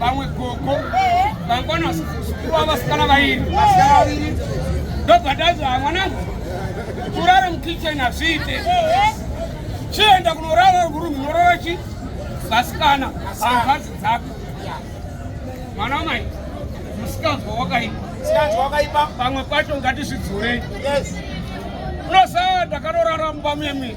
vamwe gogo vangwana vasikurwa vasikana vairi ndobvadazva ah, mwanangu kurara mukitchen hazviite chienda kunorara kurumu unorara chi vasikana hangazi dzako mwana wamai musikanzwa wakaipa pamwe pacho ngatizvidzurei unosaa ndakarorara mumba muyemwii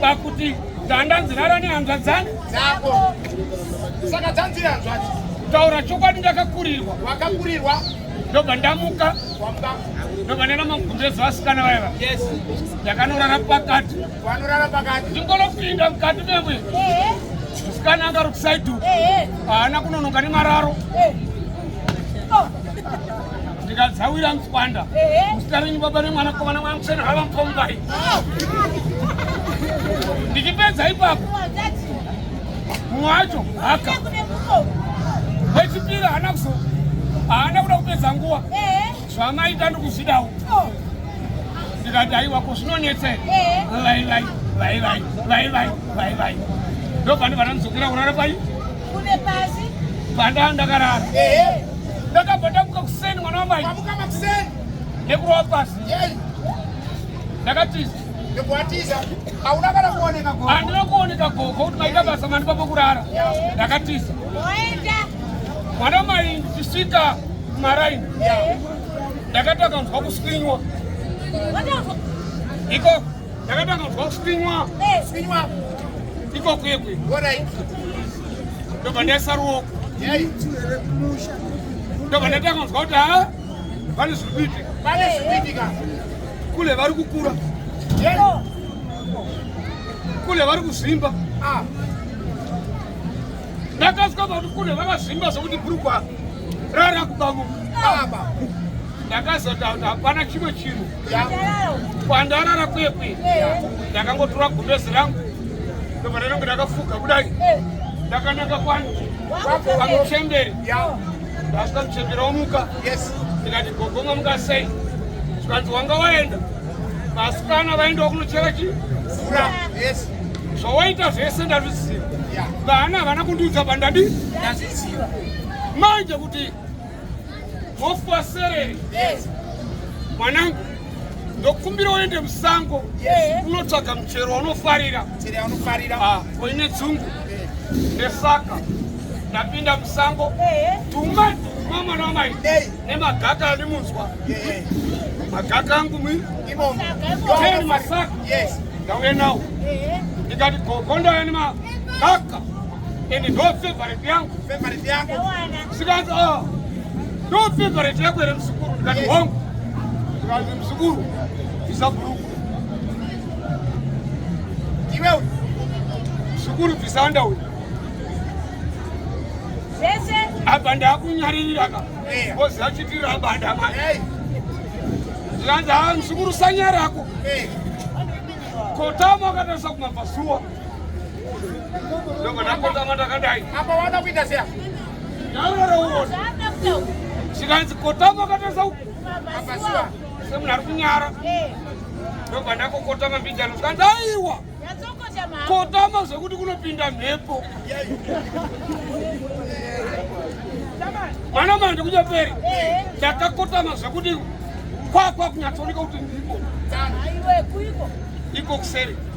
pakuti ndandanzi rara nehanzvadzani dzako saka dzanziri hanzvadzi taura chokwadi ndakakurirwa wakakurirwa ndobva ndamuka ndobva ndaenda magumbezi vasikana vaiva ndakanorara pakati vanorara pakati ndingonopinda mukati memwe musikana angarukusaidu haana kunonoka nemararo ndikadzawira mtswanda muzita renyu baba nemwana komana mwana museni hava mupombai ndichipedza ipapo mumwe wacho haka wechipiri haana kuzo haana kuda kupedza nguva zvamaita ndikuzvidawo ndikati aiwa ko zvinonetsei vaivai vaivai vaivai vaivai ndobva ndibva ndamuzokera kurara pai Kune pasi. Panda ndakarara. Eh. Ndakabva ndamuka kuseni mwana wamai. Kwamuka makuseni. Nekurova pasi. Yei. Ndakatiza. Nekuatiza. Hauna kana kuoneka gogo. Handina kuoneka gogo kuti maita basa mani papo kurara. Ndakatiza. Oenda. Mwana wamai ndichisvika kumaraini. Ndakati akanzwa kuswinywa. Ikoko. Ndakatanga kuzwa kuswinywa. Eh. Swinywa. Iko kwekwe. Alright. Ndobva ndaisa ruoko. Yai. Ndobva ndatanga kuzwa kuti ha vane zviri kuitika. Vane zviri kuitika. Kule vari kukura. Yai. Oh. Kule vari kuzvimba. Ah. Ndakasvika pakuti kule vakazvimba zvokuti brugwa rara kubamuka. Ah. Ndakazoti hapana chimwe chinhu. kwandarara kwekwe ndakangotora gumbezi rangu ndobva ndainonge ndakafuga kudai ndakananga kwani pamuchemberi ndasvika muchemberi womuka ndikati gogoma muka sei zvikanzi wanga waenda vasikana vaendawo kunochera chii mvura zvawaita zvese ndazviziva vana havana kundiudza pandadi ndazviziva manje kuti Hofu waserere. Yes. Mwanangu, ndokumbira uende musango unotsvaga yes. muchero waunofarira. Muchero waunofarira. Ah, koine dzungu. Nesaka ndapinda musango. Tuma tuma mwana wamai. Nemagaka andimunzwa. Magaka angu mwi. Imomo. Teni masaka. Yes. Ndauya nawo. Ndikati gogo ndauya nemagaka. And ndo favorite yangu. Favorite yangu. Sikazi oh. Ndo favorite yako ere msukuru ndikati yes. hongu. Sikazi msukuru bvisa bhuruku. Iwe uyu. Msukuru bvisa anda uyu. Zvese. Apa ndakunyaririra ka. Yeah. Bozi achitira apa ndamai. Hey. Sikazi ah msukuru sanyarako. Hey. Kotama akatarisa kumabva zuwa. zvikanzi kotama akatarisa uku semunhu ari kunyara ndobva ndakokotama mbijano zvikanzi aiwa kotama zvekuti kunopinda mhepo mwana manje kunyaperi ndakakotama zvekuti kwakwa kunyatsooneka kuti ndiko iko kuseri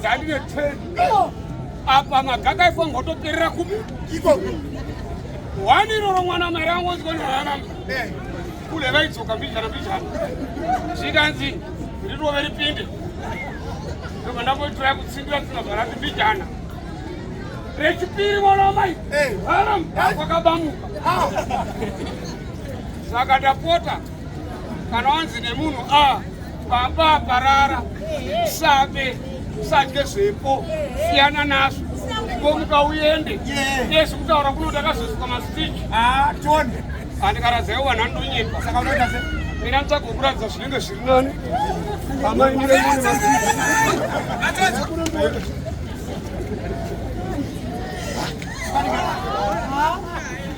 dzandine 10 apa magaka ifo ngotoperera kupi iko wani iroro mwana mari angu ozikonirana eh. kule vaidzoka mbijana mbijana zvikanzi rirove ripinde ndobva ndamboitira kutsindira tinogara ti mbijana rechipiri mwana wamai eh. haram kwakabamuka ah. saka ndapota kana wanzi nemunhu a ah, baba parara sabe sadye zvepo siyana nazvo komuka uende yes kutaura kuno ndakazosuka masitiki ah, tonde andikaradzayo vanhu anonyepa saka unoita se mina nditsvaga kuratidza zvinenge zviri nani amai mune mune masitiki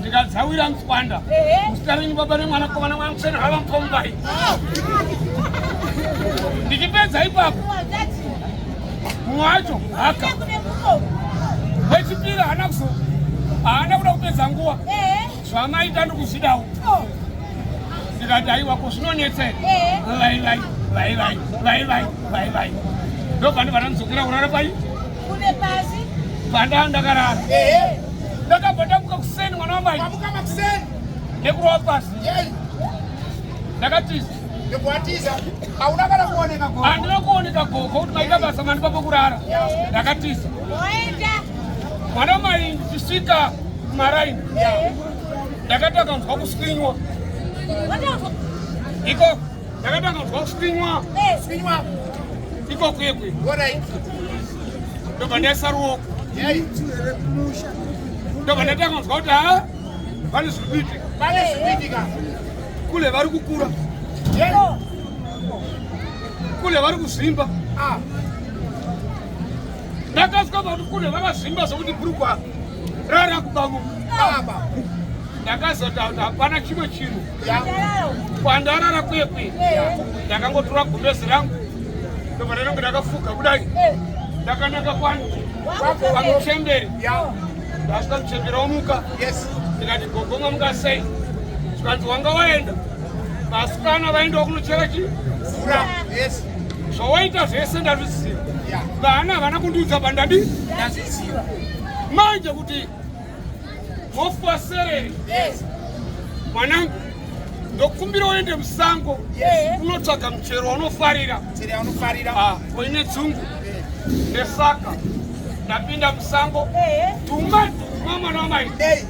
ndikadzawira mtswanda muzita renyu baba nemwana kovana mwana musena hava mupombai ndichipedza ipapo mumwe wacho haka wechipiri haana kuzo haana kuda kupedza nguva zvamaita ndikuzvidawo ndikati aiwa ko zvinonetsera vaivai vaivai vaivai vaivai ndobva ndibva ndandidzokera kurara pai Kune pasi. Panda ndakarara. Eh. Ndakabva ndamuka kuseni mwana wamai. Mamuka makuseni. Nekurova pasi. Yei. Ndakatiza. Nekuatiza. Hauna kana kuoneka gogo. Handina kuoneka gogo kuti maita basa mani papo kurara. Ndakatiza. Oenda. Mwana wamai ndichisvika kumaraini. Ndakati akanzwa kuswinywa. Iko. Ndakatanga kunzwa kuswinywa swinywa iko kwekwe ndobva ndaisa ruoko ndobva ndatanga kunzwa kuti ha vane zvikuitika kule vari kukura kule vari kuzvimba ah. ndakasvika pakuti kune vakazvimba zvokuti bhurukwa rara kubamu baba ndakazota kuti hapana chimwe chinhu kwandarara kwekwe ndakangotora gumbezi rangu ndobva ndainonge ndakafuga kudai eh. ndakanaka kwani vamuchemberi ndasvika muchemberi womuka ndikati gogomwa muka sei zvikanzi wanga waenda vasikana vaendawo kunochera chii mvura zvawaita zvese ndazviziva vana havana kundiudza pandadi ndazviziva manje kuti mofa sereri mwanangu ndokumbira uende musango unotsvaga muchero waunofarira ah, uine dzungu nesaka ndapinda musango tuma tuma mwana wamai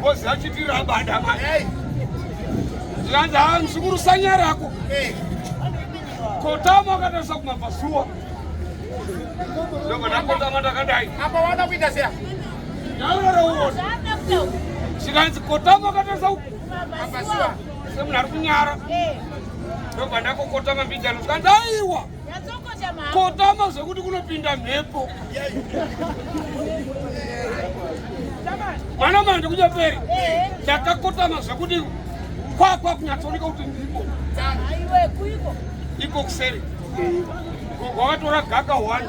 Ngozi achiti rabada manje. Zvikanzi haa mzukuru sanya rako. Kotama akatarisa kumabvazuva. Ndobva ndakotama ndakadai. Apa wada kuita seya? Ndaurara uone. Zvikanzi kotama akatarisa kumabvazuva. Semunhu ari kunyara. Ndobva ndakokotama mbijano zvikanzi aiwa. kotama zvekuti kunopinda mhepo mwana mandi kunyaperi ndakakotama zvekuti kwakwa kunyatsooneka kuti ndipo iko kuseri wakatora gaka one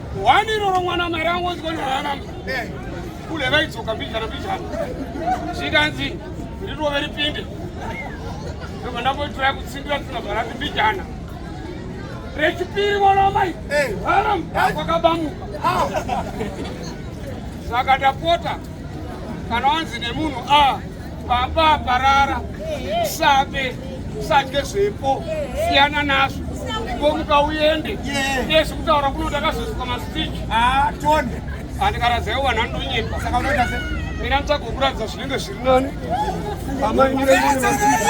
Wani roro mwana mari angonzwa norara eh. kule vaidzoka mbijana mbijana zvikanzi rirove ripinde ndobva ndamboitiraya kutsindira tsina bvarati mbijana rechipiri mwana wamai eh. haram kwakabamuka ah. saka tapota kana wanzi nemunhu a ah. Baba parara sabe sadye zvepo siyana nazvo ngomuka uende ndesi kutaura kuno ndakazosuka masitiki ah, tonde andikaradzayo vanhu anonyepa saka unoita se mina nditsvaga kuratidza zvinenge zviri nani amai miremune masitiki